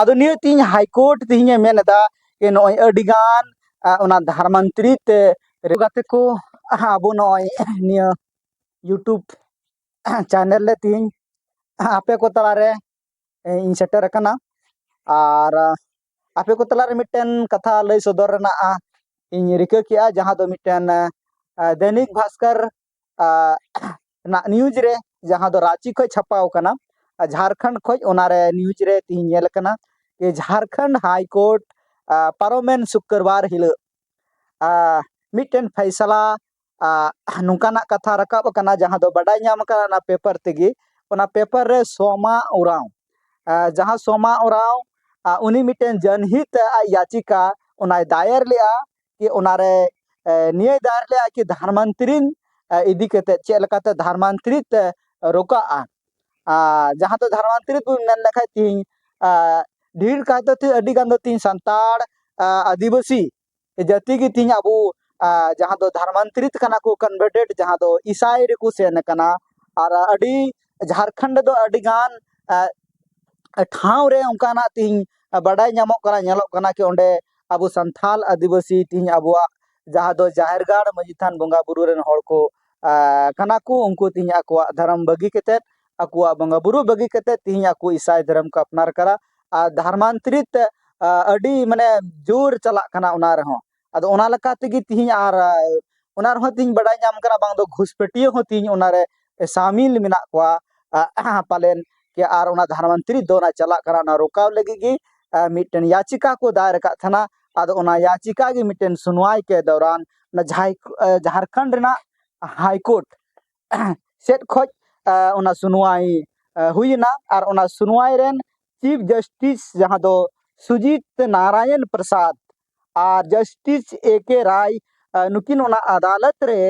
ᱟᱫᱚ ᱱᱤᱭᱟᱹ ᱛᱤᱦᱤᱧ ᱦᱟᱭᱠᱳᱨᱴ ᱛᱤᱦᱤᱧᱮ ᱢᱮᱱ ᱮᱫᱟ ᱡᱮ ᱱᱚᱜᱼᱚᱭ ᱟᱹᱰᱤᱜᱟᱱ ᱚᱱᱟ ᱫᱷᱟᱨ ᱢᱚᱱᱛᱨᱤ ᱛᱮ ᱜᱟᱛᱮ ᱠᱚ ᱟᱵᱚ ᱱᱚᱜᱼᱚᱭ ᱱᱤᱭᱟᱹ ᱤᱭᱩᱴᱩᱵᱽ ᱪᱮᱱᱮᱞ ᱨᱮ ᱛᱤᱦᱤᱧ ᱟᱯᱮ ᱠᱚ ᱛᱟᱞᱟᱨᱮ ᱤᱧ ᱥᱮᱴᱮᱨ ᱟᱠᱟᱱᱟ ᱟᱨ ᱟᱯᱮ ᱠᱚ ᱛᱟᱞᱟᱨᱮ ᱢᱤᱫᱴᱮᱱ ᱠᱟᱛᱷᱟ ᱞᱟᱹᱭ ᱥᱚᱫᱚᱨ ᱨᱮᱱᱟᱜ ᱤᱧ ᱨᱤᱠᱟᱹ ᱠᱮᱜᱼᱟ ᱡᱟᱦᱟᱸ ᱫᱚ ᱢᱤᱫᱴᱮᱱ ᱫᱚᱭᱱᱤᱠ ᱵᱷᱟᱥᱠᱚᱨ ᱱᱟᱜ ᱱᱤᱭᱩᱡᱽ ᱨᱮ ᱡᱟᱦᱟᱸ ᱫᱚ ᱨᱟᱺᱪᱤ ᱠᱷᱚᱡ ᱪᱷᱟᱯᱟᱣ ᱠᱟᱱᱟ ᱡᱷᱟᱲᱠᱷᱚᱸᱰ ᱠᱷᱚᱡ ᱚᱱᱟᱨᱮ ᱱᱤᱭᱩᱡᱽ ᱨᱮ ᱛᱤᱦᱤᱧ ᱧᱮᱞ ᱠᱟᱱᱟ ᱡᱮ ᱡᱷᱟᱲᱠᱷᱚᱸᱰ ᱦᱟᱭ ᱠᱳᱨᱴ ᱯᱟᱨᱚᱢᱮᱱ ᱥᱩᱠᱨᱵᱟᱨ ᱦᱤᱞᱳᱜ ᱢᱤᱫᱴᱮᱱ ᱯᱷᱟᱭᱥᱟᱞᱟ ᱱᱚᱝᱠᱟᱱᱟᱜ ᱠᱟᱛᱷᱟ ᱨᱟᱠᱟᱵ ᱟᱠᱟᱱᱟ ᱡᱟᱦᱟᱸ ᱫᱚ ᱵᱟᱰᱟᱭ ᱧᱟᱢ ᱟᱠᱟᱱᱟ ᱚᱱᱟ ᱯᱮᱯᱟᱨ ᱛᱮᱜᱮ ᱚᱱᱟ ᱯᱮᱯᱟᱨ ᱨᱮ ᱥᱳᱢᱟ ᱳᱨᱟᱣ ᱡᱟᱦᱟᱸ ᱥᱳᱢᱟ ᱳᱨᱟᱣ ᱩᱱᱤ ᱢᱤᱫᱴᱮᱱ ᱡᱚᱱᱦᱤᱛ ᱟᱡ ᱭᱟᱪᱤᱠᱟ ᱚᱱᱟᱭ ᱫᱟᱭᱮᱨ ᱞᱮᱜᱼᱟ ᱠᱤ ᱚᱱᱟᱨᱮ ᱱᱤᱭᱟᱹ ᱫᱟᱨ ᱞᱮ ᱟᱠᱤ ᱫᱷᱟᱨᱢᱟᱱᱛᱨᱤᱱ ᱤᱫᱤ ᱠᱟᱛᱮ ᱪᱮᱫ ᱞᱮᱠᱟᱛᱮ ᱫᱷᱟᱨᱢᱟᱱᱛᱨᱤ ᱛᱮ ᱨᱚᱠᱟᱜᱼᱟ ᱟᱨ ᱡᱟᱦᱟᱸ ᱫᱚ ᱫᱷᱟᱨᱢᱟᱱᱛᱨᱤ ᱵᱚᱱ ᱢᱮᱱ ᱞᱮᱠᱷᱟᱡ ᱛᱤᱦᱤᱧ ᱰᱷᱮᱨ ᱠᱟᱭᱛᱮ ᱛᱤᱦᱤᱧ ᱟᱹᱰᱤ ᱜᱟᱱ ᱫᱚ ᱛᱤᱦᱤᱧ ᱥᱟᱱᱛᱟᱲ ᱟᱹᱫᱤᱵᱟᱹᱥᱤ ᱡᱟᱹᱛᱤ ᱜᱮ ᱛᱤᱦᱤᱧ ᱟᱵᱚ ᱡᱟᱦᱟᱸ ᱫᱚ ᱫᱷᱟᱨᱢᱟᱱᱛᱨᱤᱛ ᱠᱟᱱᱟ ᱠᱚ ᱠᱚᱱᱵᱷᱟᱨᱴᱮᱰ ᱡᱟᱦᱟᱸ ᱫᱚ ᱤᱥᱟᱭ ᱨᱮᱠᱚ ᱥᱮᱱ ᱟᱠᱟᱱᱟ ᱟᱨ ᱟᱹᱰᱤ ᱡᱷᱟᱨᱠᱷᱚᱸᱰ ᱨᱮᱫᱚ ᱟᱹᱰᱤ ᱜᱟᱱ ᱴᱷᱟᱶ ᱨᱮ ᱚᱱᱠᱟᱱᱟᱜ ᱛᱤᱦᱤᱧ ᱵᱟᱰᱟᱭ ᱧᱟᱢᱚᱜ ᱠᱟᱱᱟ ᱧᱮᱞᱚᱜ ᱠᱟᱱᱟ ᱠᱤ ᱚᱸᱰᱮ ᱟᱵᱚ ᱥᱟᱱᱛᱟᱲ ᱟᱹᱫᱤᱵᱟᱹᱥᱤ ᱛᱮᱦᱤᱧ ᱟᱵᱚᱣᱟᱜ ᱡᱟᱦᱟᱸ ᱫᱚ ᱡᱟᱦᱮᱨ ᱜᱟᱲ ᱢᱟᱺᱡᱷᱤ ᱛᱷᱟᱱ ᱵᱚᱸᱜᱟ ᱵᱳᱨᱳ ᱨᱮᱱ ᱦᱚᱲ ᱠᱚ ᱠᱟᱱᱟ ᱠᱚ ᱩᱱᱠᱩ ᱛᱮᱦᱤᱧ ᱟᱠᱚᱣᱟᱜ ᱫᱷᱚᱨᱚᱢ ᱵᱟᱹᱜᱤ ᱠᱟᱛᱮ ᱟᱠᱚᱣᱟᱜ ᱵᱚᱸᱜᱟ ᱵᱳᱨᱳ ᱵᱟᱹᱜᱤ ᱠᱟᱛᱮ ᱛᱮᱦᱤᱧ ᱟᱠᱚ ᱤᱥᱟᱭ ᱫᱷᱚᱨᱚᱢ ᱠᱚ ᱟᱯᱱᱟᱨ ᱠᱟᱫᱟ ᱟᱨ ᱫᱷᱚᱨᱢᱟᱱᱛᱨᱤᱛ ᱟᱹᱰᱤ ᱢᱟᱱᱮ ᱡᱳᱨ ᱪᱟᱞᱟᱜ ᱠᱟᱱᱟ ᱚᱱᱟ ᱨᱮᱦᱚᱸ ᱟᱫᱚ ᱚᱱᱟ ᱞᱮᱠᱟ ᱛᱮᱜᱮ ᱛᱮᱦᱤᱧ ᱟᱨ ᱚᱱᱟ ᱨᱮᱦᱚᱸ ᱛᱮᱦᱤᱧ ᱵᱟᱰᱟᱭ ᱧᱟᱢ ᱠᱟᱱᱟ ᱵᱟᱝ ᱫᱚ ᱜᱷᱩᱥᱯᱟᱹᱴᱤᱭᱟᱹ ᱦᱚᱸ ᱛᱮᱦᱤᱧ ᱚᱱᱟᱨᱮ ᱥᱟᱢᱤᱞ ᱢᱮᱱᱟᱜ ᱠᱚᱣᱟ ᱯᱟᱞᱮᱱ ᱠᱤ ᱟᱨ ᱚᱱᱟ ᱫᱷᱟᱨᱟ ᱢᱚᱱᱛᱨᱤ ᱫᱚ ᱚᱱᱟ ᱪᱟᱞᱟᱜ ᱠᱟᱱᱟ ᱚᱱᱟ ᱨᱚᱠᱟᱣ ᱞᱟᱹᱜᱤᱫ ᱜᱮ ᱢᱤᱫᱴᱮᱱ ᱭᱟᱪᱤᱠᱟ ᱠᱚ ᱫᱟᱭᱮᱨ ᱟᱠᱟᱫ ᱛᱟᱦᱮᱱᱟ ᱟᱫᱚ ᱚᱱᱟ ᱭᱟᱪᱤᱠᱟ ᱜᱮ ᱢᱤᱫᱴᱮᱱ ᱥᱩᱱᱣᱟᱭ ᱠᱮ ᱫᱚᱣᱨᱟᱱ ᱚᱱᱟ ᱡᱷᱟᱭ ᱡᱷᱟᱨᱠᱷᱚᱸᱰ ᱨᱮᱱᱟᱜ ᱦᱟᱭ ᱠᱳᱨᱴ ᱥᱮᱫ ᱠᱷᱚᱱ ᱚᱱᱟ ᱥᱩᱱᱣᱟᱭ ᱦᱩᱭᱮᱱᱟ ᱟᱨ ᱚᱱᱟ ᱥᱩᱱᱣᱟᱭ ᱨᱮᱱ ᱪᱤᱯ ᱡᱟᱥᱴᱤᱥ ᱡᱟᱦᱟᱸ ᱫᱚ ᱥᱩᱡᱤᱛ ᱱᱟᱨᱟᱭᱚᱱ ᱯᱨᱚᱥᱟᱫᱽ ᱟᱨ ᱡᱟᱥᱴᱤᱥ ᱮ ᱠᱮ ᱨᱟᱭ ᱱᱩᱠᱤᱱ ᱚᱱᱟ ᱟᱫᱟᱞᱚᱛ ᱨᱮ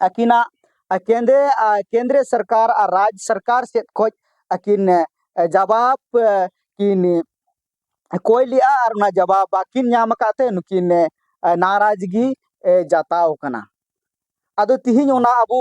ᱟᱹᱠᱤᱱᱟᱜ ᱠᱮᱸᱫᱮ ᱠᱮᱸᱫᱽᱨᱚ ᱥᱚᱨᱠᱟᱨ ᱟᱨ ᱨᱟᱡᱽ ᱥᱚᱨᱠᱟᱨ ᱥᱮᱫ ᱠᱷᱚᱱ ᱟᱹᱠᱤᱱ ᱡᱟᱵᱟᱵᱽ ᱠᱤᱱ ᱠᱚᱭ ᱞᱮᱫᱼᱟ ᱟᱨ ᱚᱱᱟ ᱡᱟᱵᱟᱵᱽ ᱵᱟᱹᱠᱤᱱ ᱧᱟᱢ ᱟᱠᱟᱫ ᱛᱮ ᱱᱩᱠᱤᱱ ᱱᱟᱨᱟᱡᱽ ᱜᱮ ᱡᱟᱛᱟᱣ ᱠᱟᱱᱟ ᱟᱫᱚ ᱛᱤᱦᱤᱧ ᱚᱱᱟ ᱟᱵᱚ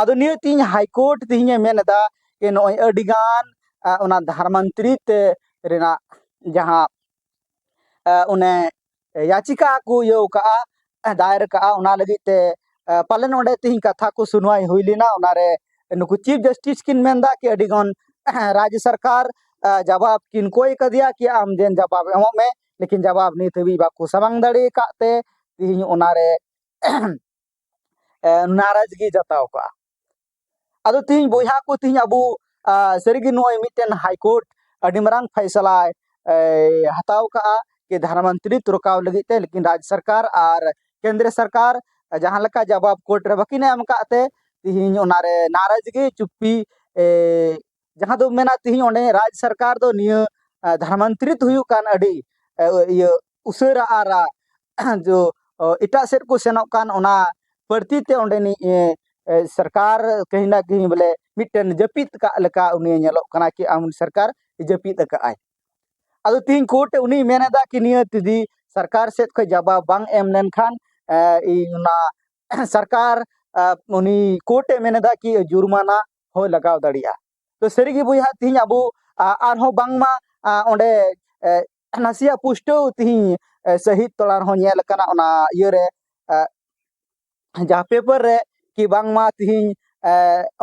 ᱟᱫᱚ ᱱᱤᱭᱟᱹ ᱛᱤᱦᱤᱧ ᱦᱟᱭᱠᱳᱨᱴ ᱛᱤᱦᱤᱧᱮ ᱢᱮᱱ ᱮᱫᱟ ᱡᱮ ᱱᱚᱜᱼᱚᱭ ᱟᱹᱰᱤᱜᱟᱱ ᱚᱱᱟ ᱫᱷᱟᱨᱢᱟᱱᱛᱨᱤ ᱛᱮ ᱨᱮᱱᱟᱜ ᱡᱟᱦᱟᱸ ᱚᱱᱮ ᱭᱟᱪᱤᱠᱟ ᱠᱚ ᱤᱭᱟᱹ ᱠᱟᱜᱼᱟ ᱫᱟᱭᱮᱨ ᱠᱟᱜᱼᱟ ᱚᱱᱟ ᱞᱟᱹᱜᱤᱫ ᱛᱮ ᱯᱟᱞᱮ ᱱᱚᱰᱮ ᱛᱤᱦᱤᱧ ᱠᱟᱛᱷᱟ ᱠᱚ ᱥᱩᱱᱣᱟᱭ ᱦᱩᱭ ᱞᱮᱱᱟ ᱚᱱᱟᱨᱮ ᱱᱩᱠᱩ ᱪᱤᱯ ᱡᱟᱥᱴᱤᱥ ᱠᱤᱱ ᱢᱮᱱᱫᱟ ᱠᱤ ᱟᱹᱰᱤᱜᱟᱱ ᱨᱟᱡᱽ ᱥᱚᱨᱠᱟᱨ ᱡᱟᱵᱟᱵ ᱠᱤᱱ ᱠᱚᱭ ᱠᱟᱫᱮᱭᱟ ᱠᱤ ᱟᱢ ᱡᱮᱱ ᱡᱟᱵᱟᱵ ᱮᱢᱚᱜ ᱢᱮ ᱞᱮᱠᱤᱱ ᱡᱟᱵᱟᱵ ᱱᱤᱛ ᱦᱟᱹᱵᱤᱡ ᱵᱟᱠᱚ ᱥᱟᱢᱟᱝ ᱫᱟᱲᱮ ᱠᱟᱜ ᱛᱮ ᱛᱤᱦᱤᱧ ᱚᱱᱟᱨᱮ ᱱᱟᱨᱟᱡᱽ ᱜᱮ ᱡᱟᱛᱟᱣ ᱠᱚᱜᱼᱟ ᱟᱫᱚ ᱛᱤᱦᱤᱧ ᱵᱚᱭᱦᱟ ᱠᱚ ᱛᱤᱦᱤᱧ ᱟᱵᱚ ᱥᱟᱹᱨᱤᱜᱮ ᱱᱚᱜᱼᱚᱭ ᱢᱤᱫᱴᱮᱱ ᱦᱟᱭᱠᱳᱨᱴ ᱟᱹᱰᱤ ᱢᱟᱨᱟᱝ ᱯᱷᱟᱭᱥᱟᱞᱟᱭ ᱦᱟᱛᱟᱣ ᱠᱟᱜᱼᱟ ᱠᱤ ᱫᱷᱟᱨᱟ ᱢᱚᱱᱛᱨᱤ ᱛᱩᱨᱠᱟᱣ ᱞᱟᱹᱜᱤᱫ ᱛᱮ ᱞᱮᱠᱤᱱ ᱨᱟᱡᱽ ᱥᱚᱨᱠᱟᱨ ᱟᱨ ᱠᱮᱱᱫᱨᱚ ᱥᱚᱨᱠᱟᱨ ᱡᱟᱦᱟᱸ ᱞᱮᱠᱟ ᱡᱟᱵᱟᱵ ᱠᱳᱨᱴ ᱨᱮ ᱵᱟᱹᱠᱤᱱ ᱮᱢ ᱠᱟᱜ ᱛᱮ ᱛᱤᱦᱤᱧ ᱚᱱᱟᱨᱮ ᱱᱟᱨᱟᱡᱽ ᱜᱮ ᱪᱩᱯᱯᱤ ᱡᱟᱦᱟᱸ ᱫᱚ ᱢᱮᱱᱟ ᱛᱤᱦᱤᱧ ᱚᱸᱰᱮ ᱨᱟᱡᱽ ᱥᱚᱨᱠᱟᱨ ᱫᱚ ᱱᱤᱭᱟᱹ ᱫᱷᱟᱨᱟ ᱢᱚᱱᱛᱨᱤ ᱦᱩᱭᱩᱜ ᱠᱟᱱ ᱟᱹᱰᱤ ᱤᱭᱟᱹ ᱩᱥᱟᱹᱨᱟ ᱟᱨ ᱡᱳ ᱮᱴᱟᱜ ᱥᱮᱫ ᱠᱚ ᱥᱮᱱᱚᱜ ᱠᱟᱱ ᱚᱱᱟ ᱵᱟᱹᱲᱛᱤ ᱛᱮ ᱚᱸᱰᱮᱱᱤᱡ ᱥᱚᱨᱠᱟᱨ ᱠᱟᱹᱦᱤ ᱱᱟ ᱠᱟᱹᱦᱤ ᱵᱚᱞᱮ ᱢᱤᱫᱴᱮᱱ ᱡᱟᱹᱯᱤᱫ ᱠᱟᱜ ᱞᱮᱠᱟ ᱩᱱᱤ ᱧᱮᱞᱚᱜ ᱠᱟᱱᱟᱭ ᱠᱤ ᱟᱢ ᱥᱚᱨᱠᱟᱨ ᱡᱟᱹᱯᱤᱫ ᱠᱟᱜ ᱟᱭ ᱟᱫᱚ ᱛᱤᱦᱤᱧ ᱠᱳᱨᱴ ᱩᱱᱤᱭ ᱢᱮᱱ ᱮᱫᱟ ᱠᱤ ᱱᱤᱭᱟᱹ ᱡᱩᱫᱤ ᱥᱚᱨᱠᱟᱨ ᱥᱮᱫ ᱠᱷᱚᱱ ᱡᱟᱵᱟᱵ ᱵᱟᱝ ᱮᱢ ᱞᱮᱱᱠᱷᱟᱱ ᱤᱧ ᱚᱱᱟ ᱥᱚᱨᱠᱟᱨ ᱩᱱᱤ ᱠᱳᱨᱴ ᱮ ᱢᱮᱱ ᱮᱫᱟ ᱠᱤ ᱡᱩᱨᱢᱟᱱᱟ ᱦᱚᱸ ᱞᱟᱜᱟᱣ ᱫᱟᱲᱮᱭᱟᱜᱼᱟ ᱛᱚ ᱥᱟᱹᱨᱤᱜᱮ ᱵᱚᱭᱦᱟ ᱛᱤᱦᱤᱧ ᱟᱵᱚ ᱟᱨᱦᱚᱸ ᱵᱟᱝᱢᱟ ᱚᱸᱰᱮ ᱱᱟᱥᱮᱭᱟᱜ ᱯᱩᱥᱴᱟᱹᱣ ᱛᱤᱦᱤᱧ ᱥᱟᱹᱦᱤᱫ ᱛᱚᱞᱟ ᱨᱮᱦᱚᱸ ᱧᱮᱞ ᱟᱠᱟᱱᱟ ᱚᱱᱟ ᱤᱭᱟᱹᱨᱮ ᱡᱟᱦᱟᱸ ᱯᱮᱯᱟᱨ ᱨᱮ ᱠᱤ ᱵᱟᱝᱢᱟ ᱛᱤᱦᱤᱧ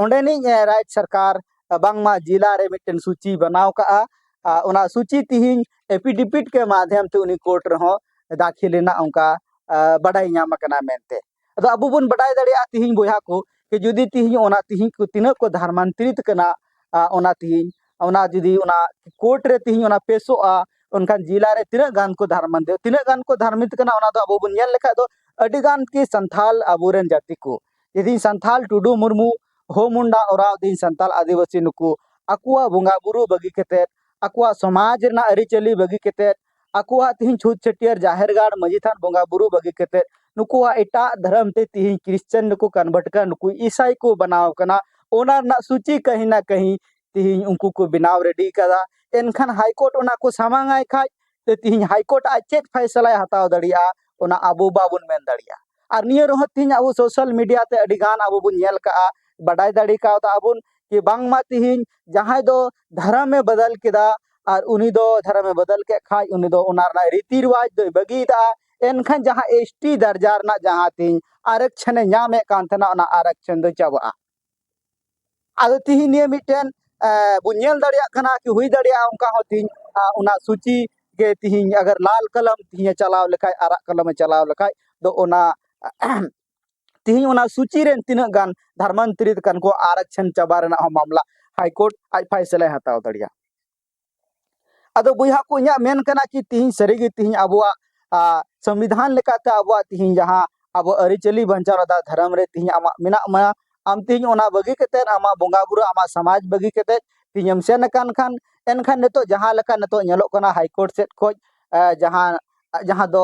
ᱚᱸᱰᱮᱱᱤᱡ ᱨᱟᱡᱽ ᱥᱚᱨᱠᱟᱨ ᱵᱟᱝᱢᱟ ᱡᱮᱞᱟ ᱨᱮ ᱢᱤᱫᱴᱮᱱ ᱥᱩᱪᱤ ᱵᱮᱱᱟᱣ ᱠᱟᱜᱼᱟ ᱚᱱᱟ ᱥᱩᱪᱤ ᱛᱤᱦᱤᱧ ᱮᱯᱤᱰᱤᱯᱤᱴ ᱠᱮ ᱢᱟᱫᱷᱭᱟᱢ ᱛᱮ ᱩᱱᱤ ᱠᱳᱨᱴ ᱨᱮᱦᱚᱸ ᱫᱟᱹᱠᱷᱤᱞ ᱨᱮᱱᱟᱜ ᱚᱱᱠᱟ ᱵᱟᱰᱟᱭ ᱧᱟᱢ ᱟᱠᱟᱱᱟ ᱢᱮᱱᱛᱮ ᱟᱫᱚ ᱟᱵᱚ ᱵᱚᱱ ᱵᱟᱰᱟᱭ ᱫᱟᱲᱮᱭᱟᱜᱼᱟ ᱛᱤᱦᱤᱧ ᱵᱚᱭᱦᱟ ᱠᱚ ᱠᱤ ᱡᱩᱫᱤ ᱛᱤᱦᱤᱧ ᱚᱱᱟ ᱛᱤᱦᱤᱧ ᱠᱚ ᱛᱤᱱᱟᱹᱜ ᱠᱚ ᱫᱷᱟᱨᱢᱟᱱᱛᱨᱤᱛ ᱠᱟᱱᱟ ᱚᱱᱟ ᱛᱤᱦᱤᱧ ᱚᱱᱟ ᱡᱩᱫᱤ ᱚᱱᱟ ᱠᱳᱨᱴ ᱨᱮ ᱛᱤᱦᱤᱧ ᱚᱱᱟ ᱯᱮᱥᱚᱜᱼᱟ ᱚᱱᱠᱟᱱ ᱡᱮᱞᱟ ᱨᱮ ᱛᱤᱱᱟᱹᱜ ᱜᱟᱱ ᱠᱚ ᱫᱷᱟᱨᱢᱟᱱ ᱛᱤᱱᱟᱹᱜ ᱜᱟᱱ ᱠᱚ ᱫᱷᱟᱨᱢᱤᱛ ᱠᱟᱱᱟ ᱚᱱᱟ ᱫᱚ ᱟᱵᱚ ᱵᱚᱱ ᱧᱮᱞ ᱞᱮᱠᱷᱟᱡ ᱫᱚ ᱟᱹᱰᱤ ᱜᱟᱱ ᱜᱮ ᱥᱟᱱᱛᱷᱟᱞ ᱟᱵᱚ ᱨᱮᱱ ᱡᱟᱹᱛᱤ ᱠᱚ ᱡᱩᱫᱤ ᱥᱟᱱᱛᱷᱟᱞ ᱴᱩᱰᱩ ᱢᱩᱨᱢᱩ ᱦᱳ ᱢᱩᱱᱰᱟ ᱚᱨᱟᱣ ᱫᱤᱱ ᱥᱟᱱᱛᱟᱞ ᱟᱹᱫᱤᱵᱟᱹᱥᱤ ᱱᱩᱠᱩ ᱟᱠᱚᱣᱟᱜ ᱵᱚᱸᱜᱟ ᱵᱩᱨᱩ ᱵᱟᱹᱜᱤ ᱠᱟᱛᱮᱫ ᱟᱠᱚᱣᱟᱜ ᱥᱚᱢᱟᱡᱽ ᱨᱮᱱᱟᱜ ᱟᱹᱨᱤᱪᱟᱹᱞᱤ ᱵᱟᱹᱜᱤ ᱠᱟᱛᱮᱫ ᱟᱠᱚᱣᱟᱜ ᱛᱤᱦᱤᱧ ᱪᱷᱩᱛ ᱪᱷᱟᱹᱴᱭᱟᱹᱨ ᱡᱟᱦᱮᱨ ᱜᱟᱲ ᱢᱟᱹᱡᱷᱤ ᱛᱷᱟᱱ ᱵᱚᱸᱜᱟ ᱵᱩᱨᱩ ᱵᱟᱹᱜᱤ ᱠᱟᱛᱮᱫ ᱱᱩᱠᱩᱣᱟᱜ ᱮᱴᱟᱜ ᱫᱷᱚᱨᱚᱢ ᱛᱮ ᱛᱤᱦᱤᱧ ᱠᱨᱤᱥᱪᱟᱱ ᱨᱮᱠᱚ ᱠᱚᱱᱵᱷᱟᱨᱴ ᱠᱟᱱᱟ ᱱᱩᱠᱩ ᱤᱥᱟᱭ ᱠᱚ ᱵᱮᱱᱟᱣ ᱠᱟᱱᱟ ᱚᱱᱟ ᱨᱮᱱᱟᱜ ᱥᱩᱪᱤ ᱠᱟᱹᱦᱤ ᱱᱟ ᱠᱟᱹᱦᱤ ᱛᱤᱦᱤᱧ ᱩᱱᱠᱩ ᱠᱚ ᱵᱮᱱᱟᱣ ᱨᱮᱰᱤ ᱠᱟᱫᱟ ᱮᱱᱠᱷᱟᱱ ᱦᱟᱭ ᱠᱳᱨᱴ ᱚᱱᱟ ᱠᱚ ᱥᱟᱢᱟᱝ ᱟᱭ ᱠᱷᱟᱡ ᱛᱮ ᱛᱤᱦᱤᱧ ᱦᱟᱭ ᱠᱳᱨᱴ ᱟᱡ ᱪᱮᱫ ᱯᱷᱟᱭᱥᱟᱞᱟᱭ ᱦᱟᱛᱟᱣ ᱫᱟᱲᱮᱭᱟᱜᱼᱟ ᱚᱱᱟ ᱟᱵᱚ ᱵᱟᱵᱚᱱ ᱢᱮᱱ ᱫᱟᱲᱮᱭᱟᱜᱼᱟ ᱟᱨ ᱱᱤᱭᱟᱹ ᱨᱮᱦᱚᱸ ᱛᱤᱦᱤᱧ ᱟᱵᱚ ᱥᱳᱥᱟᱞ ᱢᱤᱰᱤᱭᱟ ᱛᱮ ᱟᱹᱰᱤ ᱜᱟᱱ ᱟᱵᱚ ᱵᱚᱱ ᱧᱮᱞ ᱠᱟᱜᱼᱟ ᱵᱟᱰᱟᱭ ᱫᱟᱲᱮ ᱠᱟᱣᱫᱟ ᱵᱚᱱ ᱠᱤ ᱵᱟᱝᱢᱟ ᱛᱤᱦᱤᱧ ᱡᱟᱦᱟᱸᱭ ᱫᱚ ᱫᱷᱚᱨᱚᱢᱮ ᱵᱚᱫᱚᱞ ᱠᱮᱫᱟ ᱟᱨ ᱩᱱᱤ ᱫᱚ ᱫᱷᱚᱨᱚᱢᱮ ᱵᱚᱫᱚᱞ ᱠᱮᱫ ᱠᱷᱟᱡ ᱩᱱᱤ ᱫᱚ ᱚᱱᱟ ᱨᱮᱱᱟᱜ ᱨᱤᱛᱤ ᱨᱮᱣᱟᱡᱽ ᱫᱚᱭ ᱵᱟᱹᱜᱤᱭᱮᱫᱟ ᱮᱱᱠᱷᱟᱱ ᱡᱟᱦᱟᱸ ᱮᱥ ᱴᱤ ᱫᱟᱨᱡᱟ ᱨᱮᱱᱟᱜ ᱡᱟᱦᱟᱸ ᱛᱤᱧ ᱟᱨᱮᱠᱥᱮᱱᱮ ᱧᱟᱢᱮᱫ ᱠᱟᱱ ᱛᱟᱦᱮᱱᱟ ᱚᱱᱟ ᱟᱨᱮᱠᱥᱮᱱ ᱫᱚ ᱪᱟᱵᱟᱜᱼᱟ ᱟᱫᱚ ᱛᱤᱦᱤᱧ ᱱᱤᱭᱟᱹ ᱢᱤᱫᱴᱮᱱ ᱵᱚᱱ ᱧᱮᱞ ᱫᱟᱲᱮᱭᱟᱜ ᱠᱟᱱᱟ ᱠᱤ ᱦᱩᱭ ᱫᱟᱲᱮᱭᱟᱜᱼᱟ ᱚᱱᱠᱟ ᱦᱚᱸ ᱛᱤᱦᱤᱧ ᱚᱱᱟ ᱥᱩᱪᱤ ᱜᱮ ᱛᱤᱦᱤᱧ ᱟᱜᱟᱨ ᱞᱟᱞ ᱠᱚᱞᱚᱢ ᱛᱤᱦᱤᱧᱮ ᱪᱟᱞᱟᱣ ᱞᱮᱠᱷᱟᱡ ᱟᱨᱟᱜ ᱠᱚᱞᱚᱢᱮ ᱪᱟᱞᱟᱣ ᱞᱮᱠᱷᱟᱡ ᱫᱚ ᱚᱱᱟ ᱛᱮᱦᱮᱧ ᱚᱱᱟ ᱥᱩᱪᱤ ᱨᱮᱱ ᱛᱤᱱᱟᱹᱜ ᱜᱟᱱ ᱫᱷᱟᱨᱢᱟᱱᱛᱨᱤᱛ ᱠᱟᱱ ᱠᱚ ᱟᱨᱟᱠᱪᱷᱟᱱ ᱪᱟᱵᱟ ᱨᱮᱱᱟᱜ ᱦᱚᱸ ᱢᱟᱢᱞᱟ ᱦᱟᱭᱠᱳᱨᱴ ᱟᱡ ᱯᱷᱟᱭᱥᱟᱞᱟᱭ ᱦᱟᱛᱟᱣ ᱫᱟᱲᱮᱭᱟᱜᱼᱟ ᱟᱫᱚ ᱵᱚᱭᱦᱟ ᱠᱚ ᱤᱧᱟᱹᱜ ᱢᱮᱱ ᱠᱟᱱᱟ ᱠᱤ ᱛᱤᱦᱤᱧ ᱥᱟᱹᱨᱤᱜᱮ ᱛᱤᱦᱤᱧ ᱟᱵᱚᱣᱟᱜ ᱥᱚᱝᱵᱤᱫᱷᱟᱱ ᱞᱮᱠᱟᱛᱮ ᱟᱵᱚᱣᱟᱜ ᱛᱤᱦᱤᱧ ᱡᱟᱦᱟᱸ ᱟᱵᱚ ᱟᱹᱨᱤᱪᱟᱹᱞᱤ ᱵᱟᱧᱪᱟᱣ ᱨᱮᱫᱟ ᱫᱷᱚᱨᱚᱢ ᱨᱮ ᱛᱤᱦᱤᱧ ᱟᱢᱟᱜ ᱢᱮᱱᱟᱜ ᱢᱟ ᱟᱢ ᱛᱤᱦᱤᱧ ᱚᱱᱟ ᱵᱟᱹᱜᱤ ᱠᱟᱛᱮ ᱟᱢᱟᱜ ᱵᱚᱸᱜᱟ ᱵᱩᱨᱩ ᱟᱢᱟᱜ ᱥᱚᱢᱟᱡᱽ ᱵᱟᱹᱜᱤ ᱠᱟᱛᱮ ᱛᱤᱦᱤᱧ ᱮᱢ ᱥᱮᱱ ᱟᱠᱟᱱ ᱠᱷᱟᱱ ᱮᱱᱠᱷᱟᱱ ᱱᱤᱛᱚᱜ ᱡᱟᱦᱟᱸ ᱞᱮᱠᱟ ᱱᱤᱛᱚᱜ ᱧᱮᱞᱚᱜ ᱠᱟᱱᱟ ᱦᱟᱭᱠᱳᱨᱴ ᱥᱮᱫ ᱠᱷᱚᱱ ᱡᱟᱦᱟᱸ ᱡᱟᱦᱟᱸ ᱫᱚ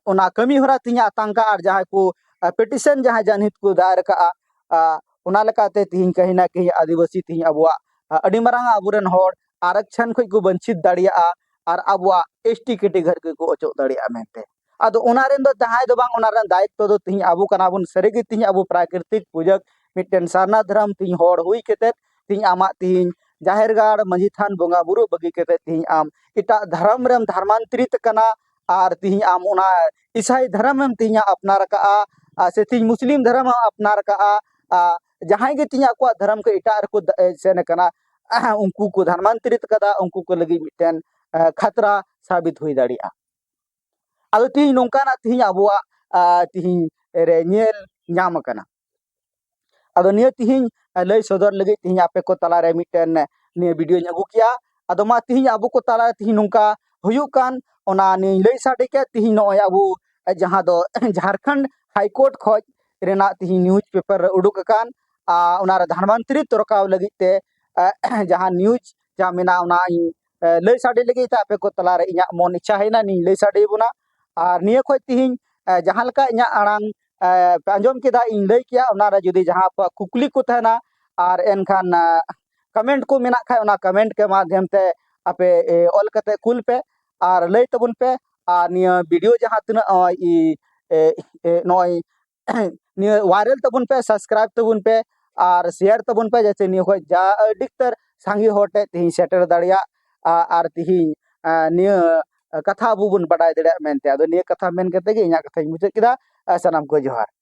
ᱚᱱᱟ ᱠᱟᱹᱢᱤ ᱦᱚᱨᱟ ᱛᱮᱦᱮᱧ ᱟᱛᱟᱝ ᱠᱟᱜᱼᱟ ᱟᱨ ᱡᱟᱦᱟᱸᱭ ᱠᱚ ᱯᱮᱴᱤᱥᱮᱱ ᱡᱟᱦᱟᱸᱭ ᱡᱟᱱᱦᱮᱯ ᱠᱚ ᱫᱟᱭᱮᱨ ᱠᱟᱜᱼᱟ ᱚᱱᱟ ᱞᱮᱠᱟᱛᱮ ᱛᱮᱦᱮᱧ ᱠᱟᱹᱦᱤ ᱱᱟ ᱠᱟᱹᱦᱤ ᱟᱹᱫᱤᱵᱟᱹᱥᱤ ᱛᱮᱦᱮᱧ ᱟᱵᱚᱣᱟᱜ ᱟᱹᱰᱤ ᱢᱟᱨᱟᱝ ᱟᱵᱚ ᱨᱮᱱ ᱦᱚᱲ ᱟᱨᱚᱠᱪᱷᱚᱱ ᱠᱷᱚᱱ ᱠᱚ ᱵᱚᱧᱪᱤᱛ ᱫᱟᱲᱮᱭᱟᱜᱼᱟ ᱟᱨ ᱟᱵᱚᱣᱟᱜ ᱮᱥ ᱴᱤ ᱠᱮᱴᱮᱜᱚᱨᱤ ᱠᱷᱚᱱ ᱠᱚ ᱚᱪᱚᱜ ᱫᱟᱲᱮᱭᱟᱜᱼᱟ ᱢᱮᱱᱛᱮ ᱟᱫᱚ ᱚᱱᱟ ᱨᱮᱱ ᱫᱚ ᱡᱟᱦᱟᱸᱭ ᱫᱚ ᱵᱟᱝ ᱚᱱᱟ ᱨᱮᱱᱟᱜ ᱫᱟᱭᱤᱛᱛᱚ ᱫᱚ ᱛᱮᱦᱮᱧ ᱟᱵᱚ ᱠᱟᱱᱟ ᱵᱚᱱ ᱥᱟᱹᱨᱤ ᱜᱮ ᱛᱮᱦᱮᱧ ᱟᱵᱚ ᱯᱨᱟᱠᱨᱤᱛᱤᱠ ᱯᱩᱡᱟᱹ ᱢᱤᱫᱴᱮᱱ ᱥᱟᱨᱱᱟ ᱫᱷᱚᱨᱚᱢ ᱛᱮᱦᱮᱧ ᱦᱚᱲ ᱦᱩᱭ ᱠᱟᱛᱮᱫ ᱛᱮᱦᱮᱧ ᱟᱢᱟᱜ ᱛᱮᱦᱮᱧ ᱡᱟᱦᱮᱨ ᱜᱟᱲ ᱢᱟᱺᱡᱷᱤ ᱛᱷᱟᱱ ᱵᱚᱸᱜᱟ ᱵᱩᱨᱩ ᱵᱟᱹᱜᱤ ᱠᱟᱛᱮᱫ ᱛᱮᱦᱮᱧ ᱟᱢ ᱮᱴᱟᱜ ᱫᱷᱚᱨᱚᱢ ᱨᱮᱢ ᱫᱷᱚᱨᱢᱟᱱᱛᱨᱤᱛ ᱠᱟᱱᱟ ᱟᱨ ᱛᱮᱦᱮᱧ ᱟᱢ ᱚᱱᱟ ᱤᱥᱟᱭ ᱫᱷᱚᱨᱚᱢᱮᱢ ᱛᱮᱦᱮᱧᱮᱢ ᱟᱯᱱᱟᱨ ᱟᱠᱟᱫᱼᱟ ᱟᱨ ᱥᱮ ᱛᱮᱦᱮᱧ ᱢᱩᱥᱞᱤᱢ ᱫᱷᱚᱨᱚᱢᱮᱢ ᱟᱯᱱᱟᱨ ᱟᱠᱟᱫᱼᱟ ᱟᱨ ᱡᱟᱦᱟᱸᱭ ᱜᱮ ᱛᱮᱦᱮᱧ ᱟᱠᱚᱣᱟᱜ ᱫᱷᱚᱨᱚᱢ ᱠᱷᱚᱱ ᱮᱴᱟᱜ ᱨᱮᱠᱚ ᱥᱮᱱ ᱟᱠᱟᱱᱟ ᱩᱱᱠᱩ ᱠᱚ ᱫᱷᱚᱨᱢᱟᱱᱛᱚᱨᱤᱛ ᱟᱠᱟᱫᱟ ᱩᱱᱠᱩ ᱠᱚ ᱞᱟᱹᱜᱤᱫ ᱢᱤᱫᱴᱮᱱ ᱠᱷᱟᱛᱨᱟ ᱥᱟᱵᱤᱛ ᱦᱩᱭ ᱫᱟᱲᱮᱭᱟᱜᱼᱟ ᱟᱫᱚ ᱛᱮᱦᱮᱧ ᱱᱚᱝᱠᱟᱱᱟᱜ ᱛᱮᱦᱮᱧ ᱟᱵᱚᱣᱟᱜ ᱛᱮᱦᱮᱧ ᱨᱮ ᱧᱮᱞ ᱧᱟᱢ ᱟᱠᱟᱱᱟ ᱟᱫᱚ ᱱᱤᱭᱟᱹ ᱛᱤᱦᱤᱧ ᱞᱟᱹᱭ ᱥᱚᱫᱚᱨ ᱞᱟᱹᱜᱤᱫ ᱛᱤᱦᱤᱧ ᱟᱯᱮ ᱠᱚ ᱛᱟᱞᱟ ᱨᱮ ᱢᱤᱫᱴᱮᱱ ᱱᱤᱭᱟᱹ ᱵᱤᱰᱤᱭᱳᱧ ᱟᱹᱜᱩ ᱠᱮᱜᱼᱟ ᱟᱫᱚ ᱢᱟ ᱛᱤᱦᱤᱧ ᱟᱵᱚ ᱠᱚ ᱛᱟᱞᱟ ᱨᱮ ᱛᱤᱦᱤᱧ ᱱᱚᱝᱠᱟ ᱦᱩᱭᱩᱜ ᱠᱟᱱ ᱚᱱᱟ ᱱᱤᱭᱟᱹᱧ ᱞᱟᱹᱭ ᱥᱟᱰᱮ ᱠᱮᱫ ᱛᱤᱦᱤᱧ ᱱᱚᱜᱼᱚᱭ ᱟᱵᱚ ᱡᱟᱦᱟᱸ ᱫᱚ ᱡᱷᱟᱨᱠᱷᱚᱸᱰ ᱦᱟᱭ ᱠᱳᱨᱴ ᱠᱷᱚᱡ ᱨᱮᱱᱟᱜ ᱛᱤᱦᱤᱧ ᱱᱤᱭᱩᱡᱽ ᱯᱮᱯᱟᱨ ᱨᱮ ᱩᱰᱩᱠ ᱟᱠᱟᱱ ᱟᱨ ᱚᱱᱟ ᱨᱮ ᱫᱷᱟᱱᱣᱟᱱᱛᱨᱤ ᱛᱚᱨᱠᱟᱣ ᱞᱟᱹᱜᱤᱫ ᱛᱮ ᱡᱟᱦᱟᱸ ᱱᱤᱭᱩᱡᱽ ᱡᱟᱦᱟᱸ ᱢᱮᱱᱟᱜᱼᱟ ᱚᱱᱟ ᱤᱧ ᱞᱟᱹᱭ ᱥᱟᱰᱮ ᱞᱟᱹᱜᱤᱫ ᱛᱮ ᱟᱯᱮ ᱠᱚ ᱛᱟᱞᱟᱨᱮ ᱤᱧᱟᱹᱜ ᱢᱚᱱ ᱤᱪᱪᱷᱟ ᱦᱮᱡ ᱮᱱᱟ ᱤᱧᱤᱧ ᱞᱟᱹᱭ ᱥᱟᱰᱮ ᱟᱵᱚᱱᱟ ᱟᱨ ᱱᱤᱭᱟᱹ ᱠᱷᱚᱱ ᱛᱤᱦᱤᱧ ᱡᱟᱦᱟᱸ ᱞᱮᱠᱟ ᱤᱧᱟᱹᱜ ᱟᱲᱟᱝ ᱯᱮ ᱟᱸᱡᱚᱢ ᱠᱮᱫᱟ ᱤᱧ ᱞᱟᱹᱭ ᱠᱮᱜᱼᱟ ᱚᱱᱟᱨᱮ ᱡᱩᱫᱤ ᱡᱟᱦᱟᱸ ᱠᱚ ᱠᱩᱠᱞᱤ ᱠᱚ ᱛᱟᱦᱮᱱᱟ ᱟᱨ ᱮᱱᱠᱷᱟᱱ ᱠᱚᱢᱮᱱᱴ ᱠᱚ ᱢᱮᱱᱟᱜ ᱠᱷᱟᱱ ᱚᱱᱟ ᱠᱚᱢᱮᱱᱴ ᱠᱚ ᱢᱟᱫᱷᱭᱚᱢ ᱛᱮ ᱟᱯᱮ ᱚᱞ ᱠᱟᱛᱮ ᱠᱩᱞ ᱯᱮ ᱟᱨ ᱞᱟᱹᱭ ᱛᱟᱵᱚᱱ ᱯᱮ ᱟᱨ ᱱᱤᱭᱟᱹ ᱵᱷᱤᱰᱤᱭᱳ ᱡᱟᱦᱟᱸ ᱛᱤᱱᱟᱹᱜ ᱱᱚᱜᱼᱚᱭ ᱱᱚᱜᱼᱚᱭ ᱱᱤᱭᱟᱹ ᱣᱟᱭᱨᱟᱞ ᱛᱟᱵᱚᱱ ᱯᱮ ᱥᱟᱵᱥᱠᱨᱟᱭᱤᱵ ᱛᱟᱵᱚᱱ ᱯᱮ ᱟᱨ ᱥᱮᱭᱟᱨ ᱛᱟᱵᱚᱱ ᱯᱮ ᱡᱟᱛᱮ ᱱᱤᱭᱟᱹ ᱠᱷᱚᱡ ᱡᱟ ᱟᱹᱰᱤ ᱩᱛᱟᱹᱨ ᱥᱟᱸᱜᱮ ᱦᱚᱲ ᱴᱷᱮᱡ ᱛᱮᱦᱤᱧ ᱥᱮᱴᱮᱨ ᱫᱟᱲᱮᱭᱟᱜ ᱟᱨ ᱛᱮᱦᱤᱧ ᱱᱤᱭᱟᱹ ᱠᱟᱛᱷᱟ ᱟᱵᱚ ᱵᱚᱱ ᱵᱟᱰᱟᱭ ᱫᱟᱲᱮᱭᱟᱜ ᱢᱮᱱᱛᱮ ᱟᱫᱚ ᱱᱤᱭᱟᱹ ᱠᱟᱛᱷᱟ ᱢᱮᱱ ᱠᱟᱛᱮ ᱜᱮ ᱤᱧᱟᱹᱜ ᱠᱟᱛᱷᱟᱧ ᱢᱩᱪᱟᱹᱫ ᱠᱮᱫᱟ ᱥᱟᱱᱟᱢ ᱠᱚ ᱡᱚᱦᱟᱨ